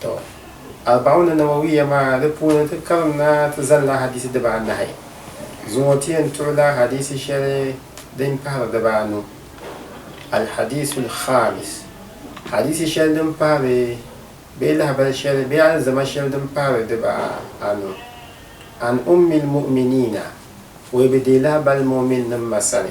To, Arba'una Nawawiyya maa di puuni ti karinda ti zalila hadiisi dibaa anahi. Zuŋɔ ti yɛn tuɣila hadiisi shɛli din pahiri dibaa anu, Al-Hadiisul Khamis, hadiisi shɛli din pahiri bee lahabali shɛli bee alizama shɛli din pahiri dibaa anu, An Ummil Mu'miniina, o yi bi deei lahabali mu'minnim ma sani,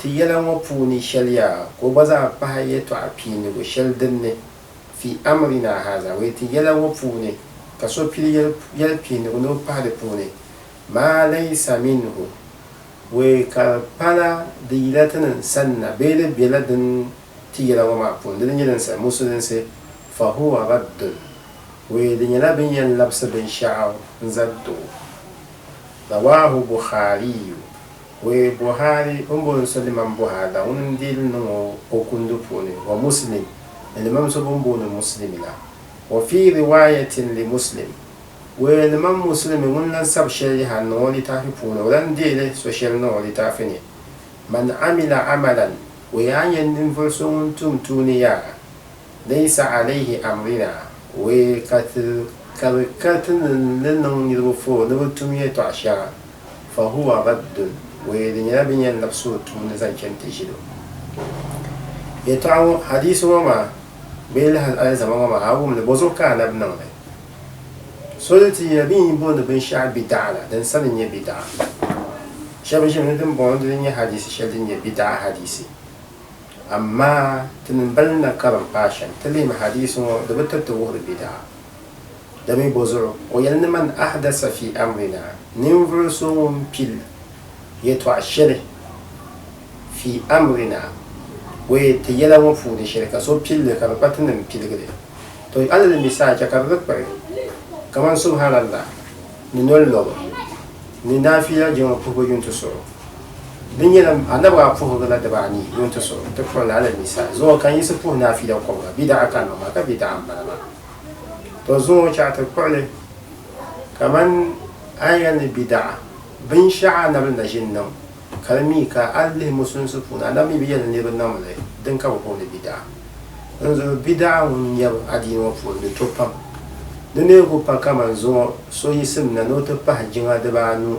Ti yɛla ŋɔ puuni shɛli yaa ka o gba zaa pahi yɛtɔɣa piinigu shɛli din ni, Fi amrinaa haaza, wee ti yɛla ŋɔ puuni ka so pili yɛli piinigu ni o pahi di puuni, maa laysa minhu, wee ka di pala di yila ti ni sanna bee di bela din ti yɛla ŋɔ maa puuni, di ni nyɛ din sabi musulinsi, fa huwa raddun, wee di nyɛla bɛ ni yɛn labisi binshɛɣu n-zali ti o. Rawaahu Bukhaariyu. We Buhari o ni booni so Limam Buhari la ŋuni n-deei li niŋ o o kundi puuni, wa Muslim, ni Limam so bɛn booni Muslimi la. Wa fii riwaayatin li Muslim, We Limam Muslimi ŋuni lan sabi shɛli yaha n-niŋ o litaafi puuni, o lan deei li so shɛli niŋ o litaafi ni, Man amila amalan, We a ni yɛn ninvuɣ so ŋun tum tuuni yaha, laysa alayhi amrina, We ka ti ka bɛ ka ti ni li niŋ niriba foo ni bɛ tum yɛtɔɣ shɛŋa, fa huwa raddun, o yɛli di nyɛla bɛ ni yɛn labisi o tuuni zaŋ chani ti ʒili o. Yɛtɔɣa ŋɔ, hadiisi ŋɔ maa, bee lahin alizama ŋɔ maa, a wum li, bɔzuɣu ka Annabi niŋ li? So di ti yɛli, Bɛ ni yi booni binshɛɣu bidaɣa la, din sani n-nyɛ bidaɣa. Shɛba ʒimi ni din bɔŋɔ dini n-nyɛ hadiisi shɛli din nyɛ bidaɣa hadiisi. Amaa! Ti ni m-bali na karim paai shɛm, ti lihimi hadiisi ŋɔ, di bi tiriti wuhiri bidaɣa. Dami bɔzuɣu? O yɛli ni man ahdasa fi amrina, ninvuɣu so ŋun pili yɛtɔɣ shɛli fi amrina, bɔ yɛ ti yɛla ŋɔ puuni shɛli, ka so pili li ka di kpa ti ni m-piligi li. To a lala mi saha chɛ ka di di kpiri kaman Subhaanallah ni noli lɔbu ni naafiila jiŋli puhibu yuntusuɣu. Di nyɛla Annabi a puhigi la dibaa anii yuntusuɣu ti kpuɣi li alal mi saha zuɣu ka n yiɣisi puhi naafiila kɔbiga, bidaɣa kanima maa ka bidaɣa m-bala maa. to zuŋɔ chɛɣu ti kpuɣi li kaman aya ni bidaɣa binshɛɣu Anabi ni ʒini niŋ ka di mi ka a lihi musulinsi puuni Anabi mi bi yɛli ni niriba niŋm li din ka bɛ booni bidaɣa. Dinzuɣu bidaɣa ŋun nyɛbu adiini ŋɔ puuni di to pam. Di neebu pa kaman zuŋɔ so yisimna ni o ti pahi jiŋa dibaa anu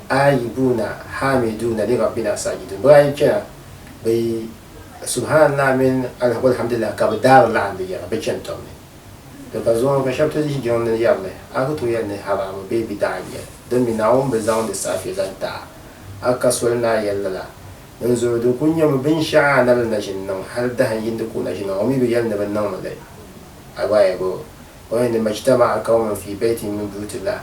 Aayibuna, Haamiduna ni Rabbina Saajidun. Bɛ daa yi chana, bɛ yi Subhaanallah mini Alhwalhamdulillah ka bɛ daari laɣim bɛ yɛra bɛ chani tɔbu ni. Di ka zuɣu ka shɛba ti yihi jiŋli ni yɛri li, A ku tooi yɛli ni haraami bee bidaɣa n-nyɛ li, din mi Naawuni bi zaŋ di saafee zaŋ ti a, a ka soli ni a yɛli lala? Dinzuɣu di ku nyɛmi binshɛɣu a na bi naʒini niŋ hal dahin yindi ka o naʒini niŋ, o mi bi yɛli ni bɛ niŋmi li. Ayi bɔ ayi bɔ! o yɛn di majtama'a qawman fii baytin min buyutillah.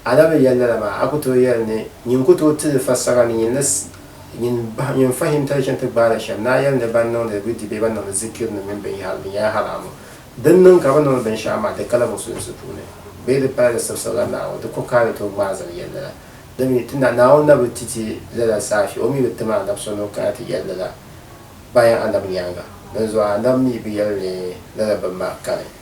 A na bi yɛli lala maa, a ku tooi yɛli ni, Nyin ku tooi tili fassara ni nyin ni nyin bahi nyin fahim tali chaŋ ti gbaai li shɛm ni a yɛli ni ban niŋdi wirdi bee ban niŋdi zikirinima mini binyɛhari bɛ nyɛla haraamu. Din niŋ ka bɛ niŋdi binshɛɣu maa, di kala Musulinsi puuni bee di pala di sibisirila Naawuni, di kuhi ka a ni tooi ŋmaai zali yɛli lala. Di mi, ti Naawuni na bi ti ti lala saafi, o mi bi tim Annabi so ni o kana ti yɛli lala bayan Annabi nyaaŋa. Dinzuɣu Annabi mi bi yɛli ni lala bimma kani.